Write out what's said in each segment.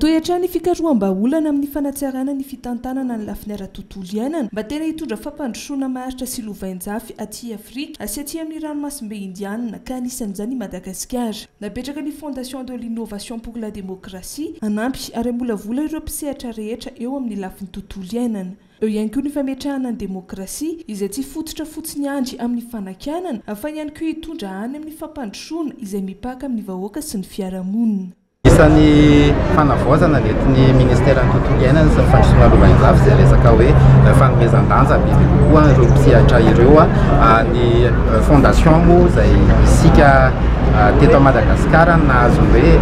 Tohy hatrany ny fikaroham-bahaolana amin'ny fanatsarana ny fitantanana ny lafiny ara-tontolo iainana mba tena hitondra fampandrosoana maharitra sy lovainjafy aty Afrika sy aty amin'ny ranomasimbe Indianina ka anisan'izany i Madagasikara. Napetraka ny Fondation de l'Innovation pour la Démocratie hanampy ary hamolavola ireo mpisehatra rehetra eo amin'ny lafiny tontolo iainana. Eo ihany koa ny fametrahana ny demokrasia izay tsy fototra fotsiny ihany amin'ny fanakianana fa ihany koa hitondra any amin'ny fampandrosoana izay mipaka amin'ny vahoaka sy ny fiarahamonina. Isan'ny fanavaozana nentin'ny Ministeran'ny Tontolo Iainana sy ny Fandrosoana Lovainjafy izay resaka hoe fanomezan-danja bebe kokoa ireo mpisehatra ireo. Ny Fondation moa izay isika teto Madagasikara no nahazo ny hoe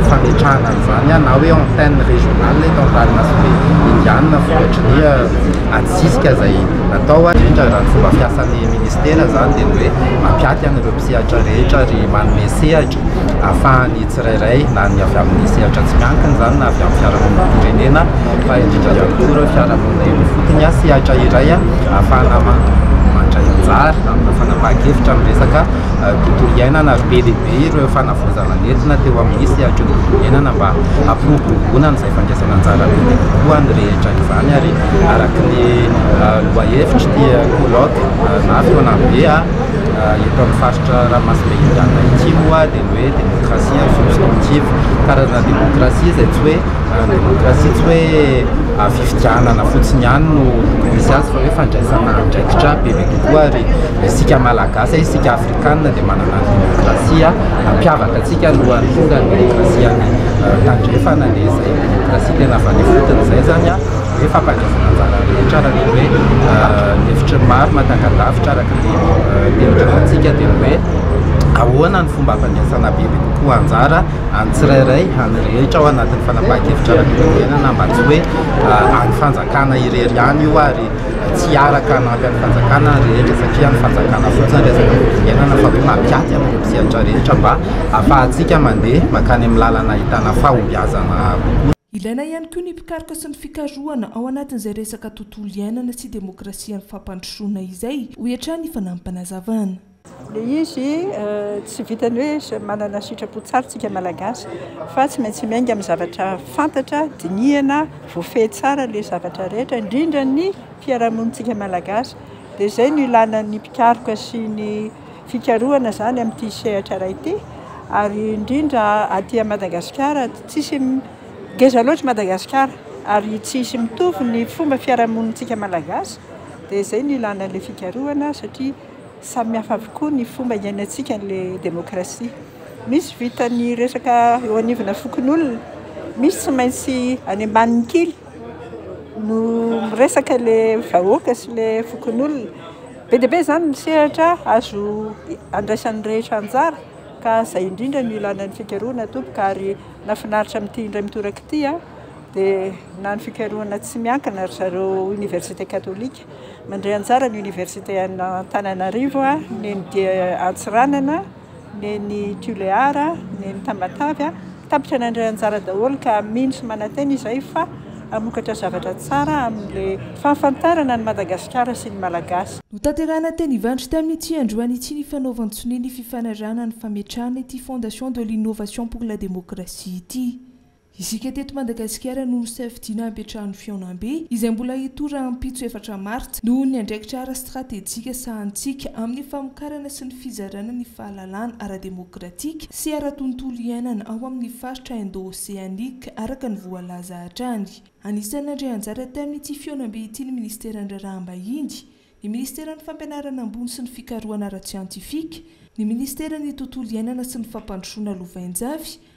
fametrahana an'izany na hoe antenne régionale eto amin'ny Lalana sy Be Indiana vokatry ny adisisika izay natao. Indrindra raha ny fomba fiasan'ny Ministera izany dia ny hoe mampiaty an'ireo mpisehatra rehetra ary manome sehatra. ahafahan'ny tsirairay na ny avy amin'ny sehatra tsy miankina izany na avy amin'ny fiarahamonim-pirenena fa indrindra ihany koa ireo fiarahamonina eny ifotony sy sehatra iray ahafahana mandray anjara amina fanapahan-kevitra amin'ny resaka tontolo iainana ary be dia be ireo fanavaozana nentina teo amin'ny sehatry ny tontolo iainana mba hampiroboroboana an'izay fandraisana anjara be dia be koa ny rehetra izany ary araka ny lohahevitra dia colloque na fihaonambe Eto amin'ny faritra Ranomasimbe Indianina ity moa dia ny hoe démocratie en substantive, karazana démocratie izay tsy hoe démocratie tsy hoe fifidianana fotsiny ihany no misy azy fa hoe fandraisana andraikitra bebe kokoa ary isika Malagasy, isika Afrikana dia manana ny démocratie mampiavaka antsika alohan'ny tonga ny démocratie any Tandrefana dia izay démocratie tena avy any ifotony izay izany. Dia fampandrosoana anjara rehetra araka ny hoe ny hevitry ny maro matangadavitra araka ny teny Giramantsika dia ny hoe ahoana ny fomba hampandraisana bebe kokoa anjara an'ny tsirairay, an'ny rehetra ao anatin'ny fanapahan-kevitra ara-pirenena mba tsy hoe an'ny fanjakana irery ihany io ary tsy hiaraka hanampy an'ny fanjakana ny rehetra satria ny fanjakana fotsiny resaka firenana fa hoe mampiaty an'ireo mpisehatra rehetra mba hahafahantsika mandeha mankany amin'ny lalana ahitana fahombiazana kokoa. Ilaina ihany koa ny mpikaroka sy ny fikarohana ao anatin'izay resaka tontolo iainana sy demokrasia amin'ny fampandrosoana izay, hoy hatrany i Fanamim-panazavana. Ilay izy tsy vitan'ny hoe manana sitrapo tsara isika Malagasy fa tsy maintsy miainga amin'ny zavatra fantatra, dinihana, voafehy tsara ilay zavatra rehetra, indrindra ny fiarahamonintsika Malagasy. Dia izay no ilana ny mpikaroka sy ny. fikarohana izany amin'ity sehatra iray ity ary indrindra aty Madagasikara tsisy ngeza loatra Madagasikara ary tsisy mitovy ny fomba fiarahamonintsika malagasy dia izay no ilana ilay fikarohana satria samy hafa avokoa ny fomba hiainantsika ilay demokrasia misy vitan'ny resaka eo anivona fokonolona misy tsy maintsy any ambanin'ny kily no miresaka ilay vahoaka sy ilay fokonolona Be dia be izany ny sehatra azo andraisan'ny rehetra anjara ka izay indrindra no ilana ny fikarohana tompoko ary nahafinaritra amin'ity indray mitoraka ity aho dia na ny fikarohana tsy miankina ry zareo Université Catholique. Mandray anjara ny Université an'Antananarivo, ny NDIA Antsiranana. Neny Tuléar, Neny Tamatave, tapitra nandray anjara daholo ka mino sy manantena izay fa hamokatra zavatra tsara amin'le fahafantarana an'i Madagasikara sy ny Malagasy. Notanterahina teny Ivandry tamin'ity androany ity ny fanaovan-tsonia ny fifanarahana ny fametrahana ity Fondation de l'Innovation pour la Démocratie ity. Isika teto Madagasikara no nosafidiana hampiantrano ny fihaonambe, izay mbola hitohy rahampitso efatra martsa, noho ny andraikitra ara-stratejika sahanintsika amin'ny famokarana sy ny fizarana ny fahalalana ara-demokratika sy ara-tontolo iainana ao amin'ny faritra Indo-Oseanika, araka ny voalaza hatrany. Anisan'ny nandray anjara tamin'ity fihaonambe ity ny Ministeran'ny Raharaham-bahiny, ny Ministeran'ny Fampianarana Ambony sy ny Fikarohana Ara-tsiantifika, ny Ministeran'ny Tontolo Iainana sy ny Fampandrosoana Lovainjafy